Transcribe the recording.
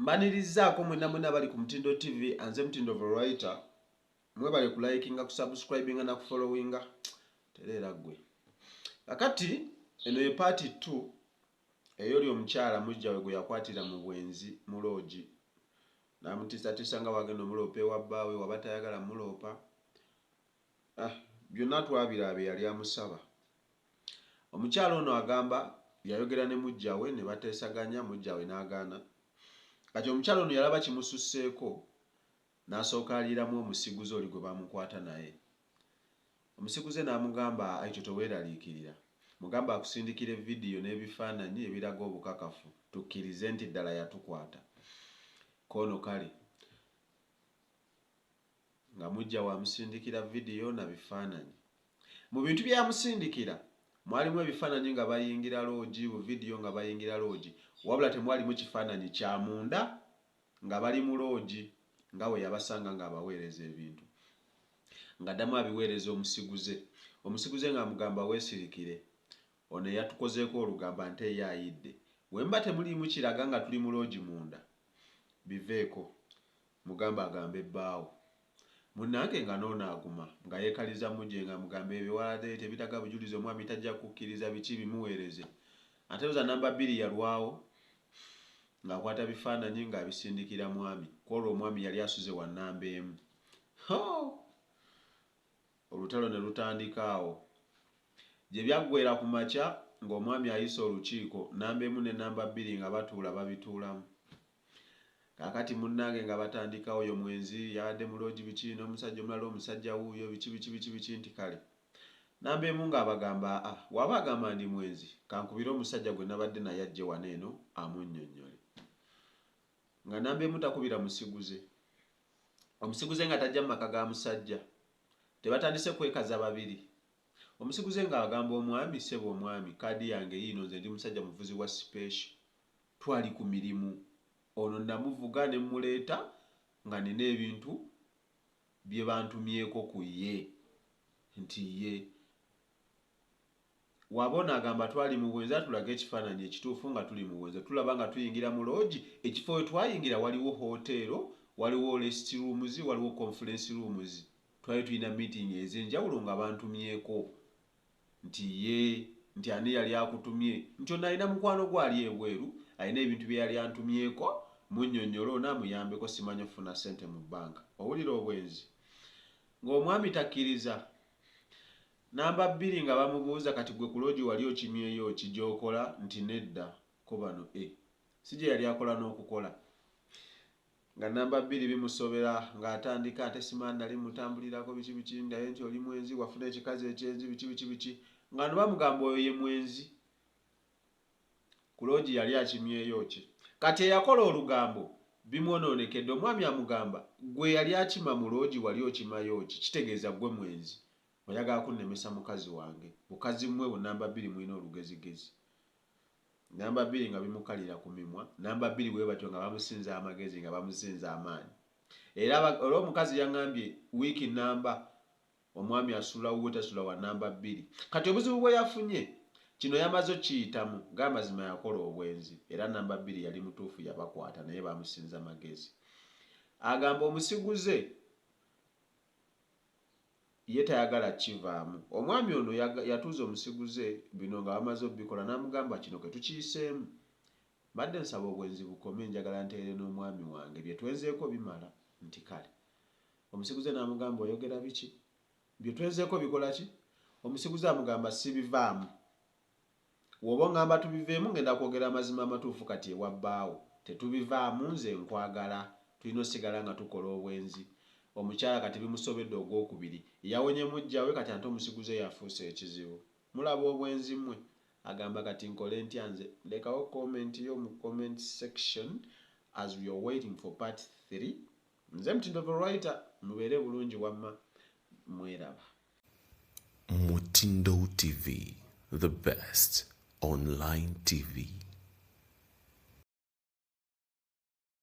Mbanirizaako mwena mwena abali ku Mutindo TV anze Mutindo Veroita mwebale ku likinga ku subscribinga na ku followinga tereera gwe kakati eno ye part 2 eyoli omukyala mujjawe gwe yakwatira mu bwenzi mu loogi namutiisatiisa nga wagenda omuloopa ewa bbaawe waba tayagala muloopa Ah byonna twabiraaba eyali amusaba. Omukyala ono agamba yayogera ne muggyawe ne bateesaganya muggyawe n'agaana. Kati omukyala ono yalaba kimususseeko n'asooka aliiramu omusiguze oli gwe bamukwata naye. Omusiguze n'amugamba Aito teweeraliikirira. Mugambe akusindikire vidiyo n'ebifaananyi ebiraga obukakafu tukkirize nti ddala yatukwata. Koono kale. Nga muggya we amusindikira vidiyo na bifaananyi. Mu bintu by'amusindikira mwalimu ebifaananyi nga bayingira loogi, buvidiyo nga bayingira loogi wabula temwalimu kifaananyi kya munda nga bali mu loogi nga bwe yabasanga ng'abaweereza ebintu ng'addamu abiweereza omusiguze. Omusiguze ng'amugamba weesirikire. Ono eyatukozeeko olugambo ante ye ayidde. Bwe muba temuliimu kiraga nga tuli mu loogi munda biveeko. Mugambe agambe bbaawo. Munange nga noono aguma nga yekaliza muje nga mugambe ebyo waladee tebitaga bujulizi omwami tajja kukiriza biki bimuwereze ate loza number bbiri yalwawo nga akwata bifananyi nga abisindikira mwami kwolwo omwami yali asuze wa number emu hoo olutalo ne lutandika awo gyebyaggwera ku makya nga omwami ayise olukiiko number emu ne number bbiri nga batuula babituulamu. Kakati munange nga batandika oyo mwenzi yabadde mu lodge biki nomusajja omulala omusajja wuuyo biki biki biki biki nti kale. Namba emu nga abagamba aa waba agamba ndi mwenzi kankubire omusajja gwe nabadde naye ajje wano eno amunyonyole. Nga namba emu takubira musiguze. Omusiguze nga tajja mu maka ga musajja. Tebatandise kwekaza babiri. Omusiguze nga agamba omwami sebo omwami kaadi yange yiino nze ndi musajja muvuzi wa special. Twali ku mirimu. Ono namuvuga ne mmuleeta nga nina ebintu bye bantumyeko ku ye nti ye. Waba ono agamba twali mu bwenzi atulage ekifaananyi ekituufu nga tuli mu bwenzi. Tulaba nga tuyingira mu loogi. Ekifo we twayingira waliwo hooteero, waliwo resiti ruumuzi, waliwo konfulensi ruumuzi. Twali tulina miitingi ez'enjawulo nga bantumyeko. Nti, Yee. Nti, Ani yali akutumye? Nti, Ono alina mukwano gwe ali ebweru, alina ebintu bye yali antumyeko, munnyonnyole ono amuyambeko, ssimanyi okufuna ssente mu bbanka. Owulira obwenzi? Nga omwami takkiriza. Nnamba bbiri nga bamubuuza, Kati ggwe ku loogi wali okimyeyo ki gy'okola? Nti, Nedda. Ko bano, E! Si gye yali akola n'okukola. Nga namba bbiri bimusobera nga atandika ate simanyi nali mutambulirako biki biki naye nti oli mwenzi wafuna ekikazi ekyenzi biki biki biki nga no bamugamba oyo ye mwenzi ku loogi yali akimyeyo ki kati eyakola olugambo bimwononekedde omwami amugamba gwe eyali akima mu loogi wali okimayo ki kitegeeza gwe mwenzi oyagala kunnemesa mukazi wange bukazi mwe bu namba bbiri mulina olugezigezi Namba bbiri nga bimukalira ku mimwa, namba bbiri bwe batyo nga bamusinza amagezi, nga bamusinza amaanyi. Era, era omukazi yaŋambye, wiiki nnamba, omwami asula wuwe, tasula wa namba bbiri. Kati obuzibu bwe yafunye, kino yamaze okukiyitamu, g'amazima yakola obwenzi, era namba bbiri yali mutuufu yabakwata, naye bamusinza magezi. Agamba, Omusiguze. ye tayagala kukivaamu. Omwami ono yatuuza omusiguze bino nga bamaze okubikola n'amugamba kino ke tukiyiseemu mbadde nsaba obwenzi bukome njagala ntereere n'omwami wange bye twenzeeko bimala nti kale omusiguze n'amugamba oyogera biki bye twenzeeko bikola ki omusiguze amugamba sibivaamu Woba ongamba tubiveemu ngenda kwogera amazima amatuufu kati ewa bbaawo tetubivaamu nze nkwagala tulina osigala nga tukola obwenzi omukyala kati bimusobedde ogwokubiri yawonye mujjawe kati ante omusiguze yafuuse ekizibu mulaba obwenzi mwe agamba kati nkole ntya nze lekawo comment yo mu comment section as we are waiting for part 3 nze mtindo the writer mubeere bulungi wamma mweraba Mutindo TV, the best online TV.